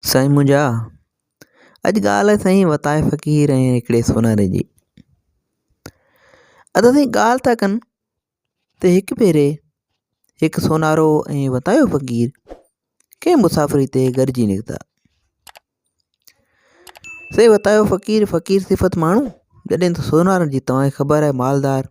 سائين منهنجا اڄ ڳالهه آهي سائين وتايي فقير ۽ هڪڙي سوناري جي ادا سائين ڳالهه ٿا ڪن ته هڪ ڀيري هڪ سونارو ۽ وتايو فقير ڪنهن مسافري تي گڏجي نڪتا سائين وتايو فقير فقير صفت ماڻهو جڏهن ته سونارن جي تواهي خبر آهي مالدار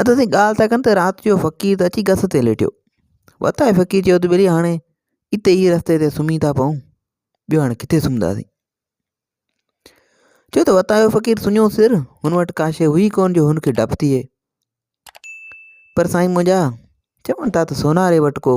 ادا سائين ڳالهه ٿا ڪن ته رات جو فقير ته اچي گس تي ليٽيو وتاء فقير چيو ته ڀلي هاڻي اتي ئي رستي تي سمهي ٿا پئون ٻيو هاڻي ڪٿي سمهنداسين چيو ته وتاء فقير سڃو سر هن وٽ ڪا شيء هئي ڪونه جو هن کي ڊپ ٿئي پر سائين منهنجا چون ٿا ته سوناري وٽ ڪو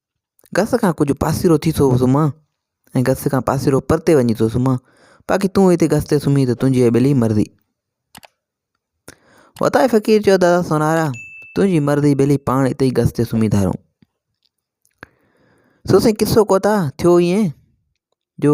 گس کان ڪجهه پاسيرو ٿي ٿو سمهان ۽ گس کان پاسيرو پرتي وڃي ٿو سمهان باقي تون هتي گس تي سمهين ته تنهنجي ۽ ٻلي مرضي. وتائي فقير چيو دادا سونارا تنهنجي مرضي ٻلي پاڻ اتي ئي گس تي سمهي ڌارون سو سائين قصو ڪوتا ٿيو ائين جو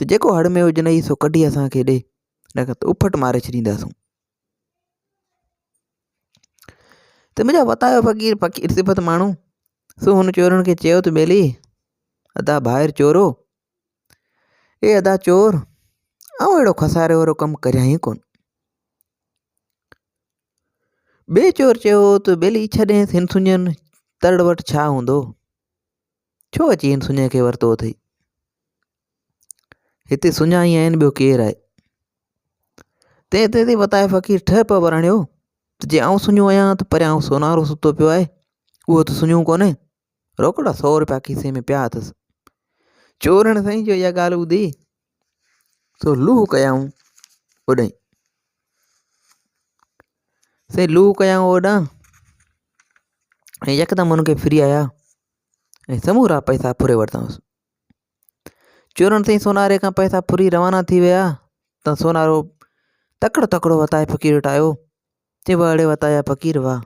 ته جيڪو هڙ ۾ هجنئي سو ڪڍي اسان کي ڏي نه ته اڦٽ ماري ڇڏينداسون. ته منهنجا وتايو فقير فقير صفت ماڻهو سو هن چورن کي چيو ته ٻيلي ادا ڀائر چورو اي ادا چور آئون اهڙو خساري وارو ڪم ڪريان ئي ڪونه ٻئي چور چيو ته ٻيلي ڇڏينس هن سڃن ترڙ وٽ ڇا هوندو ڇو اچي هن سڃاء کي ورتو اٿئي؟ هتي سڃا ئي آهن ٻيو ڪير آهي؟ تنهن تي تي وتايو فقير ٺهه پئي ورڻيو ته جي آئون سڃو آهيان ته پريان سونارو ستو پيو آهي اهو ته سڃو ڪونهي روڪڙا سؤ روپيا کيسي ۾ پيا اٿس چورڻ سائين جو اها ڳالهه ٻڌي سو لوه ڪيائون اوڏانهن سائين لوه ڪيائون اوڏانهن ۽ يڪدم هن کي ڦري آيا ۽ سمورا پئسا ڦري ورتائونس. چورن سائين سوناري کان پئسا ڦري روانا ٿي ويا ته سونارو تڪڙو تڪڙو وتايي فقير وٽ آيو، چيائين واهه اڙي وتايا فقير واهه،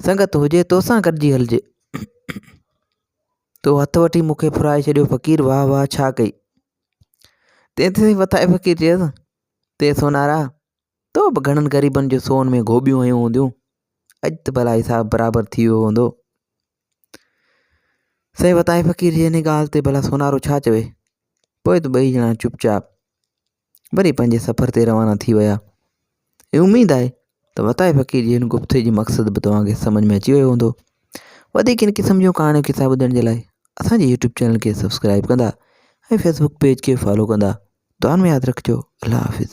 سنگت هجي تو سان گڏجي هلجي، تو هٿ وٺي مون کي ڦرائي ڇڏيو فقير واهه واهه ڇا ڪئي؟ تنهن تي وتايي فقير چيس، تي سونارا! تو به گهڻن غريبن جو سون ۾ گهوٻيون هنيون هونديون. اڄ ته ڀلا حساب برابر ٿي ويو هوندو. سائين وتائي فقير جي انهي ڳالهه تي ڀلا سونارو ڇا چوي؟ پوء ته ٻئي ڄڻا چپ چاپ وري پنهنجي سفر تي روانا ٿي ويا. ۽ اميد آهي ته وتائي فقير جي هن گفتي جو مقصد به توهان کي سمجهه ۾ اچي ويو هوندو. وڌيڪ ان قسم جون ڪهاڻيون قصا ٻڌڻ جي لاء اسان جي يوٽيوب چينل کي سبسڪرائيب ڪندا ۽ فيسبوڪ پيج کي فالو ڪندا. دعائن ۾ ياد رکجو. الله حافظ.